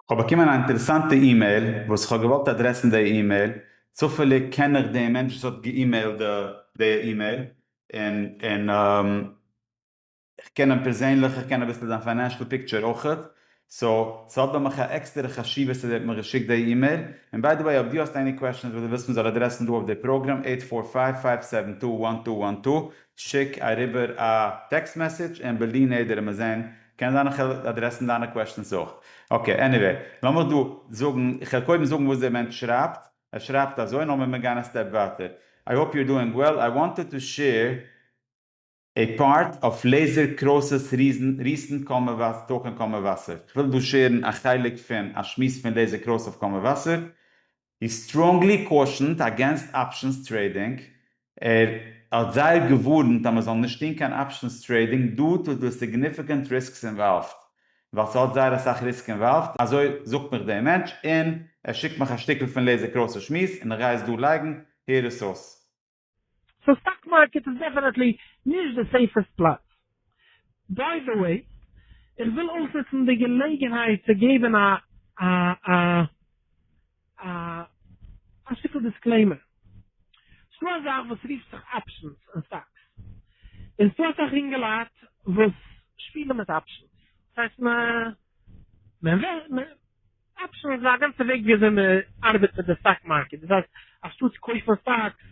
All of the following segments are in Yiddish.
כ'האב באקומען א אינטערעסאנטע אימעיל וואס כ'האב געוואלט אדרעסן די אימעיל, צופעליג קען איך די מענטש וואס האט געאימעילט די אימעיל, און און כ'קען אים פערזענליך, איך קען אביסל זיין פיינענשעל פיקטשער אויכעט, סאו ס'האט ביי מיך א עקסטערע חשיבות אז ער האט מיך געשיקט די אימעיל, און ביי די וועי אויב דו האסט עני קוועשאנס וואס דו ווילסט מ'זאל אדרעסן דא אויף די פראגראם עיט פאר פייוו פייוו סעווען טו וואן טו וואן טו שיק אריבער א טעקסט מעסעדזש און בלי נדר וועט מען זען קען זיין איך העל אדרעסן דיינע קוועשטענס אויך. אקעי עניוועי לאמיך דא זאגן, איך העל קודם זאגן וואס דער מענטש שרייבט, ער שרייבט אזוי און לאמיר מיר גיין א סטעפ ווייטער. איי האופ יו אר דואינג וועל, איי וואנטעד טו שעיר עי פארט אוו לעיזער קראוסעס ריסענט קאמעוואס טאלק און קאמעוואסער. איך וויל דא שעירן א חלק פון א שמועס פון לעיזער קראוס אויף קאמעוואסער. הי סטראנגלי קאושענד אגענסט אפשענס טרעידינג, ער האט זייער געווארנט אז מען זאל נישט טון קיין אפשענס טרעידינג דו טו די סיגניפיקענט ריסקס אינוואלווד, ווייל ס'האט זייער אסאך ריסק אינוואלווד, אזוי זאגט מיך דער מענטש, און ער שיקט מיך א שטיקל פון לעזער קראסער שמועס, און איך גיי עס דא לייגן, הער עס אויס. סאו סטאק מארקעט איז דעפענעטלי נישט די סעיפעסט פלאץ. ביי די וועי, איך וויל אויסנוצן די געלעגנהייט צו געבן א א א א א שטיקל דיסקלעימער. ס'דא א זאך וואס רופט זיך אפשענס אין סטאקס. און ס'דא אסאך אינגעלייט וואס שפילן מיט אפשענס. ס'הייסט מע מע ווער מע. אפשענס איז א גאנצע וועג ווי אזוי מען ארבעט מיט די סטאק מארקעט, דאס הייסט אנשטאטס קויפן סטאקס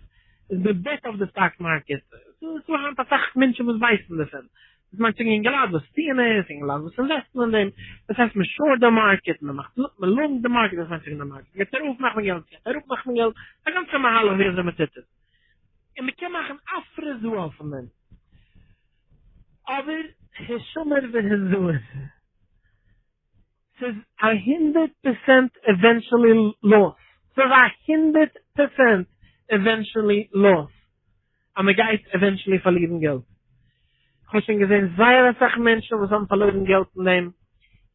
איז מען בעט אויף די סטאק מארקעט, ס'איז דא היינט אסאך מענטשן וואס ווייסן דערפון, דאס מיינט אינגעלייט וואס טוען עס, אינגעלייט וואס אינוועסטן אין דעם, דאס הייסט מען שארט די מארקעט, מען מאכט מען לאנג די מארקעט, דאס מיינט ווען די מארקעט גייט ארויף מאכט מען געלט, גייט אראפ מאכט מען געלט, ס'איז א גאנצע מהלך ווי אזוי מען טוט עס, און מען קען מאכן אפרעס דא אויפן נעט, אבער השומר והזהר. סאיז א הונדערט פערסענט עווענטשעלי לאס. סאיז א הונדערט פערסענט עווענטשעלי לאס אז מען גייט עווענטשעלי פארלירן געלט. איך האב שוין געזען זייער אסאך מענטשן וואס האבן פארלוירן געלט אין דעם.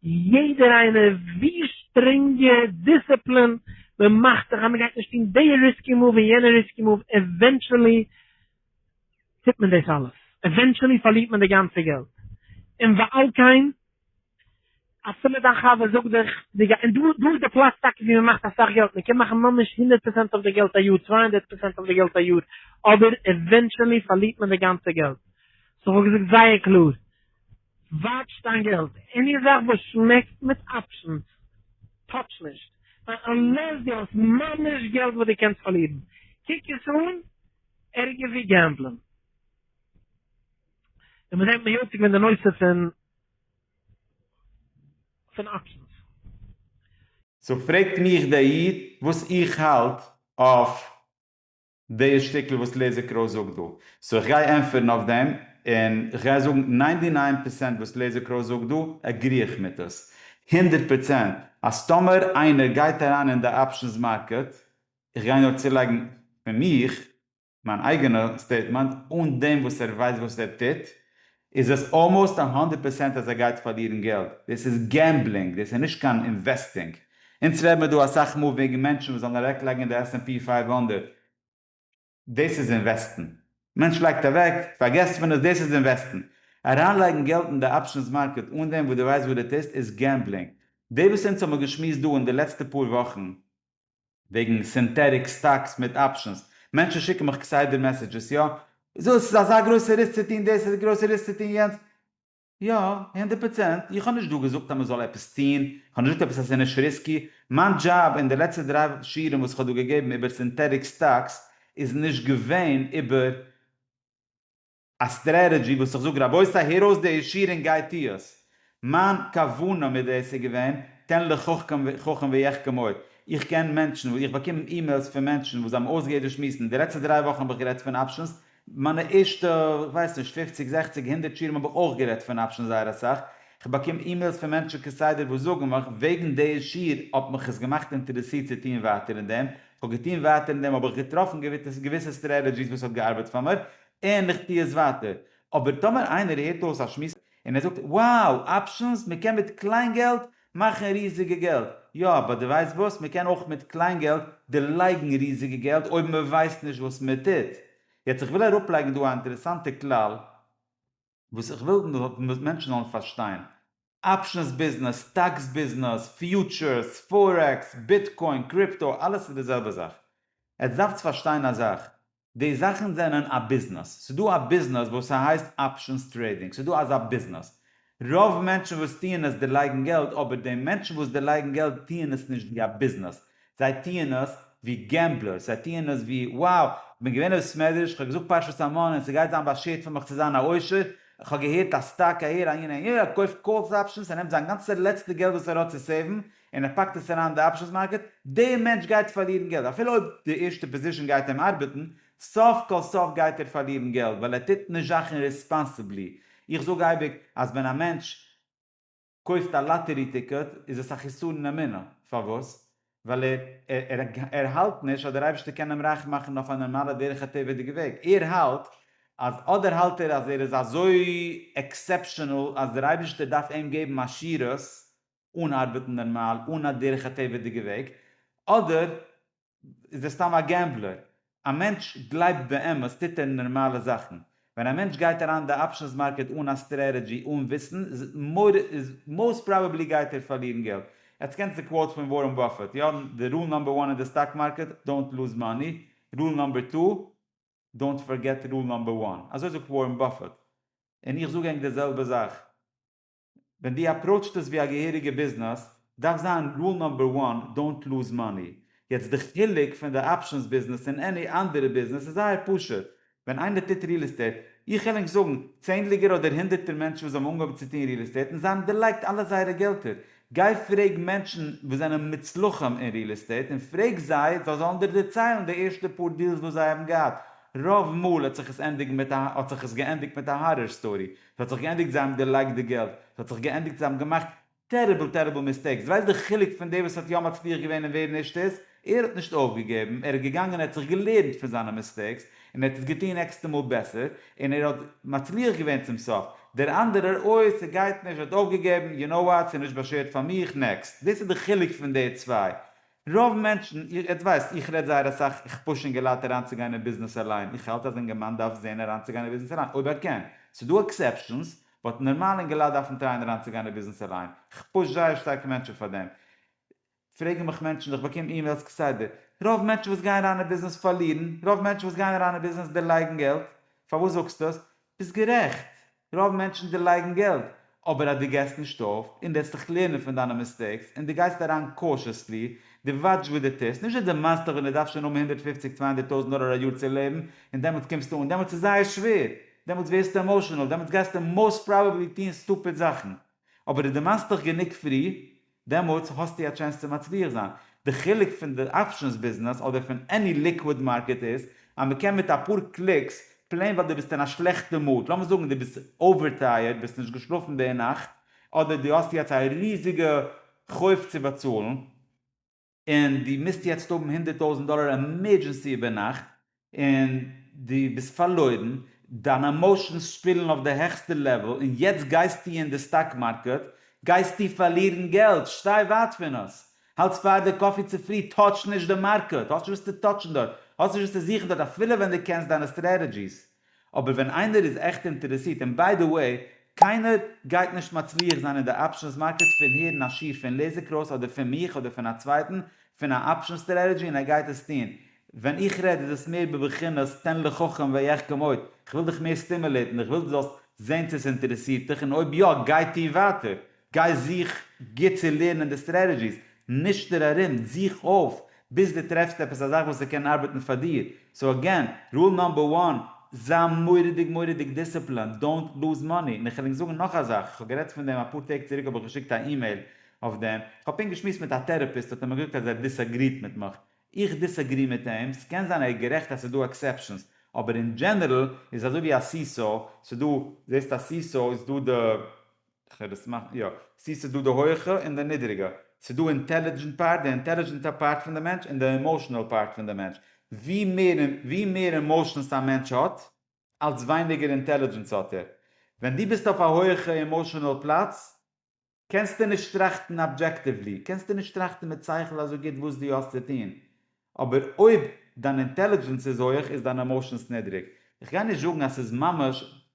יעדער איינער ווי שטרענגע דיסציפלין מען מאכט זיך אז מען גייט נישט טון די ריסקי מאוו און יענע ריסקי מאוו עווענטשעלי טוט מען דאס אלעס. עווענטשעלי פארלירט מען די גאנצע געלט. און ועל כן אז סאמע דיין חבר זאגט דיך די גע און דא דא איז די פלאץ טאקע ווי מען מאכט אסאך געלט מען קען מאכן ממש הונדערט פראצענט אויף די געלט א יאר צוויי הונדערט פראצענט אויף די געלט א יאר אבער עווענטשעלי פארלירט מען די גאנצע געלט סאו כ'האב געזאגט זייער קלאר וואטש דיין געלט עני זאך וואס שמעקט מיט אפשענס טאטש נישט ווייל אנלעס דו האסט ממש געלט וואס דו קענסט פארלירן קוק עס אן ערגער ווי געמבלען און מ'זעט מיט יציק ווען די נושא פון פון אקשנס. סאו פרעגט מיך דער איד וואס איך האלט אויף די שטיקל וואס לעזער קראוס זאגט דא, סאו איך גיי ענטפערן אויף דעם, און איך גיי זאגן ניינטי ניין פערסענט וואס לעזער קראוס זאגט דא עגרי איך מיט עס, הונדערט פערסענט אז טאמער איינער גייט אריין אין די אפשנס מארקעט, איך גיי נאר צולייגן פון מיך, מיין אייגענע סטעיטמענט, אן דעם וואס ער ווייסט וואס ער טוט, איז עס אלמאוסט א הונדערט פערסענט אז ער גייט פארלירן געלט, דאס איז געמבלינג, דאס איז נישט קיין אינוועסטינג, אונז רעד מיר דא אסאך מאל וועגן מענטשן וואס זאלן אוועק לייגן אין די עס ענד פי פייוו הונדערט, דאס איז אינוועסטן, מענטש לייגט אוועק, פארגעסט פון עס, דאס איז אינוועסטן, אריין לייגן געלט אין די אפשענס מארקעט אן דעם וואס דו ווייסט וואס דו טוסט איז געמבלינג, דאס וואס אונז האבן געשמועסט דא אין די לעצטע פאר וואכן, וועגן סינטעטיק סטאקס מיט אפשענס, מענטשן שיקן מיך כסדר מעסעדזשעס, יא, וויאזוי עס איז אזא גרויסע ריסק צו טון דאס, אזא גרויסע ריסק צו טון יענץ, יא, הונדערט פראצענט, איך האב נישט דא געזאגט אז מען זאל עפעס טון, איך האב נישט געזאגט עפעס אז עס איז נישט ריסקי, מיין דזשאב אין די לעצטע דריי שיעורים וואס איך האב דא געגעבן איבער סינטעטיק סטאקס איז נישט געווען איבער. א סטרעטעדזשי וואס איך זאג רבותי הער אויס די שיר און גיי טו עס. מיין כוונה מיט דאס איז געווען, תן לחכם חכם ויחכם עוד, איך קען מענטשן וואס איך באקום אימעילס פון מענטשן וואס זיי האבן אויסגעהערט דאס שמועסן, די לעצטע דריי וואכן האב איך גערעדט פון אפשענס, מיינע ערשטע כ'ווייס נישט פופציג זעכציג הונדערט שירים האב איך אויך גערעדט פון אפשענס זייער אסאך, כ'באקום אימעילס פון מענטשן כסדר וואס זאגן מיך וועגן די שיר האט מיך עס געמאכט אינטערעסירט צו טון ווייטער אין דעם, כ'האב געטון ווייטער אין דעם האב איך געטראפן געוויסע סטרעטעדזשיס וואס האט געארבעט פאר מיר, און איך טו עס ווייטער. אבער טאמער איינער הערט אויס א שמועס און ער זאגט wow options מען קען מיט קליין געלט מאכן ריזיגע געלט, יא אבער די ווייסט וואס מען קען אויך מיט קליין געלט דערלייגן ריזיגע געלט אויב מען ווייסט נישט וואס מען טוט. יעצט איך וויל אראפלייגן דא א אינטערעסאנטע כלל. וואס איך וויל וואס מענטשן זאלן פארשטיין, אפשענס ביזנעס, סטאקס ביזנעס, פיוטשערס, פארעקס, ביטקוין, קריפטא, אלעס איז די זעלבע זאך. עטס דארפטס פארשטיין א זאך, די זאכן זענען א ביזנעס. ס'איז דא א ביזנעס וואס ס'הייסט אפשענס טרעידינג, ס'איז דא אזא ביזנעס. רוב מענטשן וואס טוען עס דערלייגן געלט, אבער די מענטשן וואס דערלייגן געלט טוען עס נישט ווי א ביזנעס, זיי טוען עס ווי געמבלערס, זיי טוען עס ווי, wow, איך בין געווען אין בית מדרש, איך האב געזאגט פרשת המן און ס'גייט זיין באשערט פאר מיך צו זיין א עושר, איך האב געהערט אז סטאק אהער אהין אהין, ער קויפט קאלס אפשענס, ער נעמט זיין גאנצע לעצטע געלט וואס ער האט צו סעיוון און ער פאקט עס אריין אין די אפשענס מארקעט, דער מענטש גייט פארלירן געלט, אפילו אויב די ערשטע פאזישן גייט אים ארבעטן, סוף כל סוף גייט ער פארלירן געלט ווייל ער טוט נישט זאכן ריספאנסעבלי, איך זאג אייביג אז ווען א מענטש. קויפט א לאטערי טיקעט איז עס א חיסרון אין אמונה, פארוואס? ווייל ער ער האלט נישט אז דער אייבערשטער קען אים רייך מאכן אויף א נארמאלע דרך הטבע'דיגע וועג, ער האלט אז אדער האלט ער אז ער איז אזוי עקסעפשענעל אז דער אייבערשטער דארף אים געבן עשירות אן ארבעטן נארמאל אן א דרך הטבע'דיגע וועג, אדער איז ער סתם א געמבלער. א מענטש גלייבט באמת טוט ער נארמאלע זאכן. ווען א מענטש גייט אריין אין די אפשענס מארקעט אן א סטרעטעדזשי אן וויסן איז מאוסט פראבעבלי גייט ער פארלירן געלט. עטס קענטס די קוואוט פון ווארען באפעט, יא? די רול נאמבער וואן אין די סטאק מארקעט, דאונט לוז מאני, רול נאמבער טו, דאונט פארגעט רול נאמבער וואן. אזוי זאגט ווארען באפעט. און איך זאג ענק די זעלבע זאך. ווען דו אפראוטשט עס ווי א געהעריגע ביזנעס, דארף זיין רול נאמבער וואן, דאונט לוז מאני. יעצט די חילוק פון די אפשענס ביזנעס און עני אנדערע ביזנעס איז זייער פשוט, ווען איינער טוט ריעל עסטעיט, איך קען ענק זאגן צענדליגער אדער הונדערטער מענטשן וואס האבן אנגעהויבן צו טון ריעל עסטעיט און זיי האבן דערלייגט אלע זייערע געלטער, גיי פרעג מענטשן וואס זענען מוצלחים אין ריעל עסטעיט און פרעג זיי, זיי זאלן דיר דערציילן די ערשטע פאר דיעלס וואס זיי האבן געהאט, רוב מאל האט זיך עס ענדיגן מיט א האט זיך עס געענדיגט מיט א הארער סטארי, ס'האט זיך געענדיגט זיי האבן געלייגט די געלט, ס'האט זיך געענדיגט זיי האבן געמאכט טעריבל טעריבל מיסטעיקס, ווייסט די חילוק פון דער וואס האט יא מצליח געווען און ווער נישט איז, ער האט נישט אויפגעגעבן, ער איז געגאנגען ער האט זיך געלערנט פון זיינע מיסטעיקס, און ער האט עס געטון נעקסטע מאל בעסער, און ער האט מצליח געווען צום סוף, דער אנדערער אוי ס'גייט נישט ער האט אויפגעגעבן, יו נאו וואט ס'איז נישט באשערט פאר מיך, נעקסט, דאס איז די חילוק פון די צוויי, רוב מענטשן, איר ווייסט, איך רעד זייער אסאך, איך פוש אינגעלייט אריינצוגיין אין ביזנעס אליין, איך האלט אז אינגערמאן דארף זען אריינצוגיין אין ביזנעס אליין אויב ער קען, ס'דא עקסעפשאנס, באט נארמאלע אינגעלייט דארפן טרייען אריינצוגיין אין ביזנעס אליין, איך פוש זייער שטארק מענטשן פאר דעם, פרעגן מיך מענטשן, איך באקום אימעילס כסדר, רוב מענטשן וואס גייען אריין אין ביזנעס פארלירן, רוב מענטשן וואס גייען אריין אין ביזנעס דערלייגן געלט, פארוואס זאגסטו עס? ביסט גערעכט, רוב מענטשן דערלייגן געלט, אבער אז דו געסט נישט אויף, און דו העסט זיך לערנען פון דיינע מיסטעיקס, און דו גייסט אריין קאושעסלי, דו וואטש וואס דו טוסט, נישט דו דערמאנסט דיך ווען דו דארפסט שוין האבן הונדערט פֿופֿציק צוויי הונדערט טויזנט דאלער א יאר צו לעבן, און דעמאלטס קומסטו אן, דעמאלטס איז זייער שווער, דעמאלטס ווערסטו עמאושענעל, דעמאלטס גייסטו מאוסט פראבעבלי טון סטופיד זאכן, אבער דו דערמאנסט דיך גענוג פרי, דעמאלטס האסטו א טשענס צו מצליח זיין. די חילוק פון די אפשענס ביזנעס אדער פון עני ליקוויד מארקעט איז אז מ'קען מיט אפאר קליקס, פלעין ווייל דו ביסט אין א שלעכטע מוד, לאמיר זאגן דו ביסט אווער טייערד, ביסט נישט געשלאפן די נאכט, אדער דו האסט יעצט א ריזיגע חוב צו באצאלן, און דו מוזט יעצט האבן הונדערט טויזנט דאלער עמערדזשענסי איבערנאכט, און דו ביסט פארלוירן, דיינע עמאושענס שפילן אויף די העכסטע לעוועל, און יעצט גייסטו אין די סטאק מארקעט, גייסטו פארלירן געלט, שטיי ווייט פון עס, האלטס פאר די קאפי צופרי, טאטש נישט די מארקעט, האסט נישט וואס צו טאטשן דארט, האסט נישט וואס צו זוכן דארט, אפילו ווען דו קענסט דיינע סטרעטעדזשיס. אבער ווען איינער איז עכט אינטערעסירט, און ביי די וועי, קיינער גייט נישט מצליח זיין אין די אפשענס מארקעט פון הערן א שיעור פון לעזער קראוס אדער פון מיך אדער פון א צווייטן פון א אפשען סטרעטעדזשי און ער גייט עס טון, ווען איך רעד איז עס מער בבחינת תן לחכם ויחכם עוד, איך וויל דיך מער סטימולעטן, איך וויל דו זאלסט זען צו עס אינטערעסירט דיך און אויב יא גיי טוה ווייטער, גיי זוך גוט צו לערנען די סטרעטעדזשיס, נישטער ארום, זוך אויף ביז דו טרעפסט עפעס א זאך וואס עס קען ארבעטן פאר דיר, סאו עגעין, רול נאמבער וואן, זיי מורא'דיג מורא'דיג דיסציפלינד, דאונט לוז מאני, און כ'על ענק זאגן נאך א זאך, כ'האב גערעדט פון דעם אפאר טעג צוריק האב איך געשיקט א אימעיל אויף דעם, כ'האב פונקט געשמועסט מיט א טעראפיסט האט ער מיר געזאגט אז ער דיסאגריט מיט מיך, איך דיסאגרי מיט אים, ס'קען זיין ער איז גערעכט אז ס'איז דא עקסעפשאנס, אבער אין דזשענערל איז אזוי ווי א סיסאו, ס'איז דא, זעסט א סיסאו איז דא די. כ'וועל עס מאכן יא. ס'איז ס'איז דא די הויעכע און די נידעריגע. ס'איז דא אינטעלידזשענט פארט, די אינטעלידזשענט א פארט פון די מענטש, און די אימאשענעל פארט פון די מענטש. ווי מער און ווי מער אימאשענס א מענטש האט, אלץ ווייניגער אינטעלידזשענס האט ער. ווען דו ביסט אויף א הויעכע אימאשענעל פלאץ, קענסטו נישט טראכטן אבדזשעקטיוולי, קענסטו נישט טראכטן מיט שכל אזוי גוט וואס דו האסט צו טון. אבער אויב דיין אינטעלידזשענס איז הויעך איז דיין אימאשענס נידריג. כ'גיי נישט זאגן אז ס'איז ממש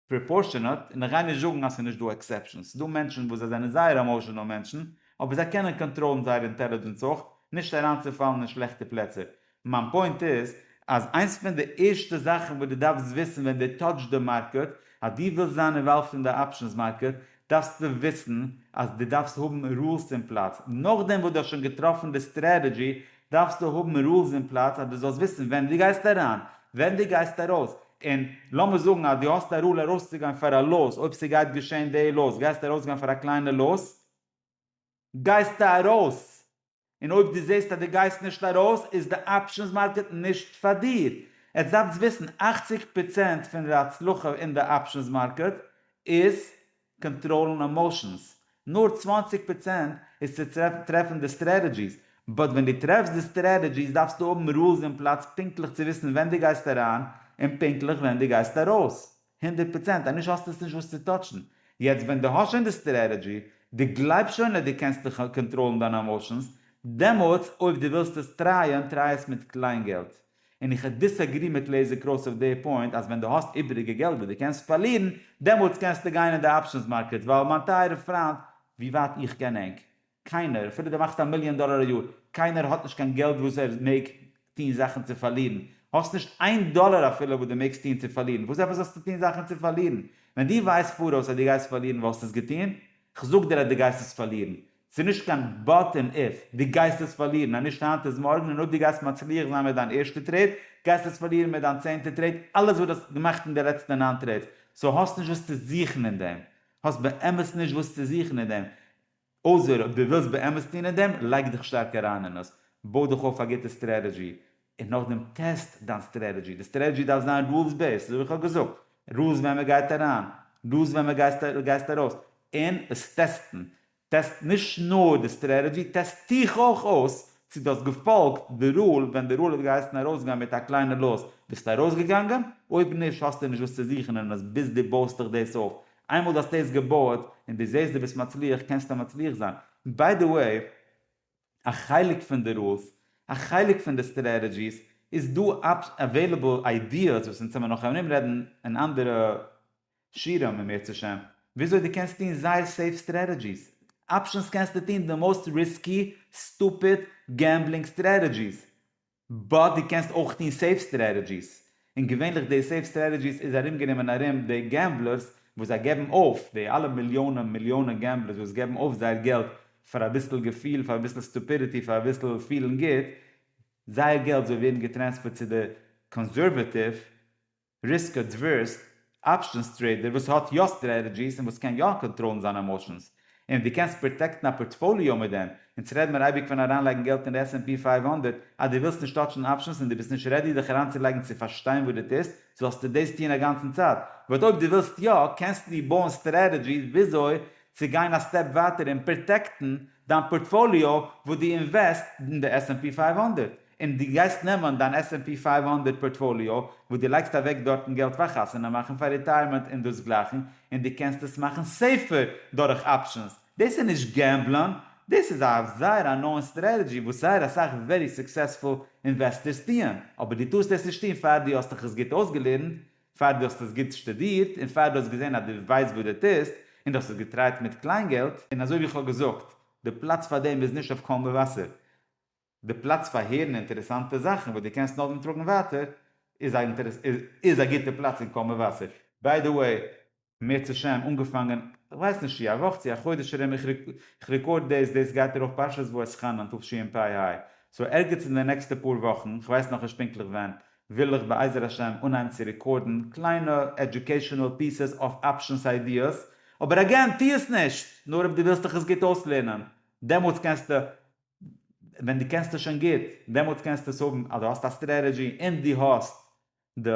פראפארשענעט, און איך גיי נישט זאגן אז ס'איז נישט דא עקסעפשאנס, ס'דא מענטשן וואס זיי זענען זייער עמאושענעל מענטשן, אבער זיי קענען קאנטראלן זייער אינטעלידזשענס אויך, נישט אריינצופאלן אין שלעכטע פלעצער. מיין פוינט איז, אז איינס פון די ערשטע זאכן וואס דו דארפסט וויסן ווען דו טאטשט די מארקעט, אז דו ווילסט זיין אינוואלווד אין די אפשענס מארקעט, דארפסטו וויסן אז דו דארפסט האבן רולס אין פלאץ, נאכדעם וואס דו האסט שוין געטראפן די סטרעטעדזשי, דארפסטו האבן רולס אין פלאץ אז דו זאלסט וויסן ווען דו גייסט אריין, ווען דו גייסט ארויס, און לאמיר זאגן אז דו האסט א רול ארויסצוגיין פאר א לאס, אויב ס'גייט געשען די לאס גייסטו ארויסגיין פאר א קליינע לאס, גייסטו ארויס! און אויב דו זעסט אז דו גייסט נישט ארויס איז די אפשענס מארקעט נישט פאר דיר. עטס דארפטס וויסן אַכציק פראצענט פון די הצלחה אין די אפשענס מארקעט איז קאנטראלן עמאושענס, נאר צוואַנציק פראצענט איז צו טרעפן די סטרעטעדזשיס, באט ווען דו טרעפסט די סטרעטעדזשיס דארפסטו האבן רולס אין פלאץ פונקטליך צו וויסן ווען דו גייסט אריין און פונקטליך ווען דו גייסט ארויס. הונדערט פראצענט אז נישט האסטו עס נישט וואס צו טאטשן. יעצט ווען דו האסט שוין די סטרעטעדזשי, דו גלייבסט שוין אז דו קענסט קאנטראלן דיינע עמאשענס, דעמאלטס אויב דו ווילסט עס טרייען, טריי עס מיט קליין געלט. און איך דיסעגרי מיט לעיזער קראוס אויף די פוינט אז ווען דו האסט איבעריגע געלט וואס דו קענסט פארלירן, דעמאלטס קענסטו גיין אין די אפשענס מארקעט, ווייל מיין טייערע פריינט, ווי ווייט איך קען ענק, קיינער, אפילו דו מאכסט א מיליאן דאלער א יאר, קיינער האט נישט קיין געלט וואס ער מעג טון זאכן צו פארלירן. האסט נישט איין דאלער אפילו וואס דו מעגסט טון צו פארלירן, וואס עפעס האסטו טון זאכן צו פארלירן? ווען דו ווייסט פאראויס אז דו גייסט פארלירן וואלסטו עס געטון? כ'זאג דיר אז דו גייסט עס פארלירן. ס'איז נישט קיין באט און איף. דו גייסט עס פארלירן, אז נישט היינט איז מארגן, און אויב דו גייסט מצליח זיין מיט דיין ערשטע טרעיד, גייסטו עס פארלירן מיט דיין צענטע טרעיד, אלעס וואס דו האסט געמאכט אין די לעצטע נײַן טרעידס. סאו האסט נישט וואס צו זוכן אין דעם. האסט באמת נישט וואס צו זוכן אין דעם. אויסער אויב דו ווילסט באמת טון אין דעם, לייג דיך שטארק אריין אין עס, בוי דיך אויף א גוטע סטרעטעדזשי, און נאכדעם טעסט דיין סטרעטעדזשי, די סטרעטעדזשי דארף זיין רולס בעיסד, אזוי ווי איך האב געזאגט, רולס ווען מען גייט אריין, רולס ווען מען גייסט ארויס, און עס טעסטן, טעסט נישט נאר די סטרעטעדזשי, טעסט דיך אויך אויס צו דו האסט געפאלגט די רול, ווען די רול האט געהייסן ארויסגיין מיט א קליינע לאס, ביסטו ארויסגעגאנגען? אויב נישט האסטו נישט וואס צו זוכן אין עס ביז דו בויסט דיך דאס אויף, איינמאל די האסט עס געבויעט און די זעסט די ביסט מצליח קענסטו מצליח זיין. ביי די וועי, א חלק פון די רולס, א חלק פון די סטרעטעדזשיס, איז דא עוועילעבל איידיעס וואס אונז העמיר נאך ארום רעדן אין אנדערע שיעורים אם ירצה ה', וויאזוי די קענסט טון זייער סעיף סטרעטעדזשיס. אפשנס קענסטו טון די מאוסט ריסקי, סטופיד, געמבלינג סטרעטעדזשיס. באט דו קענסט אויך טון סעיף סטרעטעדזשיס, און געווענליך די סעיף סטרעטעדזשיס איז ארומגענומען ארום די געמבלערס וואס זיי געבן אויף, די אלע מיליאנען מיליאנען געמבלערס וואס געבן אויף זייער געלט פאר אביסל געפיל, פאר אביסל סטופידיטי, פאר אביסל פילן גוט, זייער געלט זאל ווערן געטרענספערט צו די קאנסערוועטיוו ריסקא דווערסט אפשענס טרעידער וואס האט יא סטרעטעדזשיס און וואס קען יא קאנטראלן זיינע עמאשענס און די קענסט פראטעקטן א פארטפאליאו מיט דעם אונז רעד מיר אייביג פון אריינלייגן געלט אין די עס ענד פי פייוו הונדערט אז די ווילסט נישט טאטשן אפשענס און די ביסט נישט רעדי דיך אריינצולייגן צו פארשטיין וואס די טוסט זאלסטו דאס טון אגאנצן צייט באט אויב די ווילסט יא קענסטו דיר בויען סטרעטעדזשיס וויאזוי צו גיין א סטעפ ווייטער און פראטעקטן דיין פארטפאליאו וואס די אינוועסט אין די עס ענד פי פייוו הונדערט און דו גייסט נעמען דיין עס ענד פי פֿינף הונדערט פארטפאליאו וואס דו לייגסט אוועק דארטן געלט פאר חתונה מאכן פאר ריטייערמענט און דאס גלייכן און דו קענסט עס מאכן סעיפער דורך אפשענס דאס איז נישט געמבלען דאס איז א זייער א נאון סטרעטעדזשי וואס זייער אסאך ווערי סוקסעספול אינוועסטערס טוען אבער דו טארסט עס נישט טון פאר דו האסט דיך עס גוט אויסגעלערנט פאר דו האסט עס גוט שטודירט און פאר דו האסט געזען אז דו ווייסט וואס דו טוסט און דו האסט עס געטרייט מיט קליינגעלט און אזוי ווי איך האב געזאגט די פלאץ פאר דעם איז נישט אויף קול מבשר די פלאץ פאר הערן אינטערעסאנטע זאכן וואס דו קענסט נאכדעם טראגן ווייטער איז א גוטע פלאץ אין קול מבשר. ביי די וועי, מער צו שם, אנגעפאנגען, כ'ווייס נישט צי א וואך צי א חודש ארום, איך רעקארד דאס, דאס גייט ארויף פרשת ואסכנן תשפ ה, סאו ערגעץ אין די נעקסטע פאר וואכן, כ'ווייס נאכנישט פונקטליך ווען, וויל איך בעזר השם אנהייבן צו רעקארדן קליינע עדיוקעישאנעל פיסעס אויף אפשענס איידיעס, אבער אגעין, טו עס נישט! נאר אויב דו ווילסט דיך עס גוט אויסלערנען, דעמאלטס קענסטו ווען דו קענסט עס שוין גוט, דעמאלטס קענסטו עס האבן אז דו האסט א סטרעטעדזשי און דו האסט די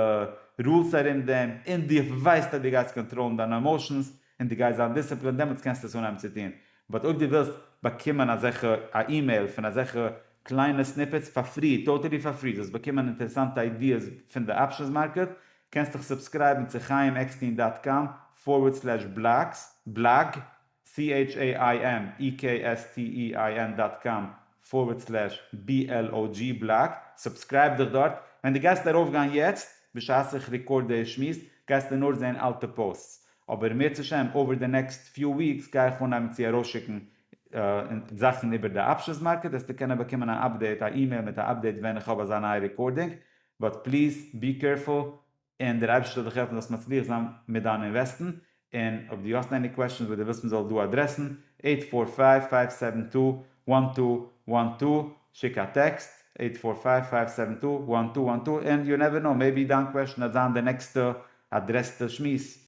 רולס ארום דעם און דו ווייסט אז דו גייסט קאנטראלן דיינע עמאושענס און דו גייסט זיין דיסציפלינד, דעמאלטס קענסטו עס אנהייבן צו טון. באט אויב דו ווילסט באקומען אזעלכע א אימעיל פון אזעלכע קליינע סניפעטס פאר פרי, טאטעלי פאר פרי, זאלסט באקומען אינטערעסאנטע איידיעס פון די אפשענס מארקעט, קענסטוך סובסקרייבן צו חייםעקסטין דאט קאם פארווערד סלעש בלאגס, בלאג. CHAIMEKSTEIN דאט קאם פארווערד סלעש BLOG בלאג, סובסקרייב דיך דארט, ווען די גייסט ארויף גיין יעצט, בשעת איך ריקארד די שמועס, גייסטו נאר זעהן אלטע פאוסטס, אבער אם ירצה השם אווער די נעקסט פיו וויקס גיי איך אנהייבן צו ארויסשיקן זאכן איבער די אפשענס מארקעט, וועסטו קענען באקומען א אפדעיט, א אימעיל מיט א אפדעיט ווען איך האב אזא נייע ריקארדינג, באט פליז בי קערפול, און דער אייבערשטער זאל דיך העלפן זאלסט מצליח זיין מיט דיין אינוועסטן, און אויב דו האסט עני קוועשאנס וואס דו ווילסט מען זאל דא אדרעסן, עיט פאר פייוו פייוו סעווען טו וואן טו וואן טו, שיק א טעקסט, עיט פאר פייוו פייוו סעווען טו וואן טו וואן טו, און יו נעווער נאו, מעיבי דיין קוועשאן וועט זיין די נעקסטע אדרעסטע שמועס.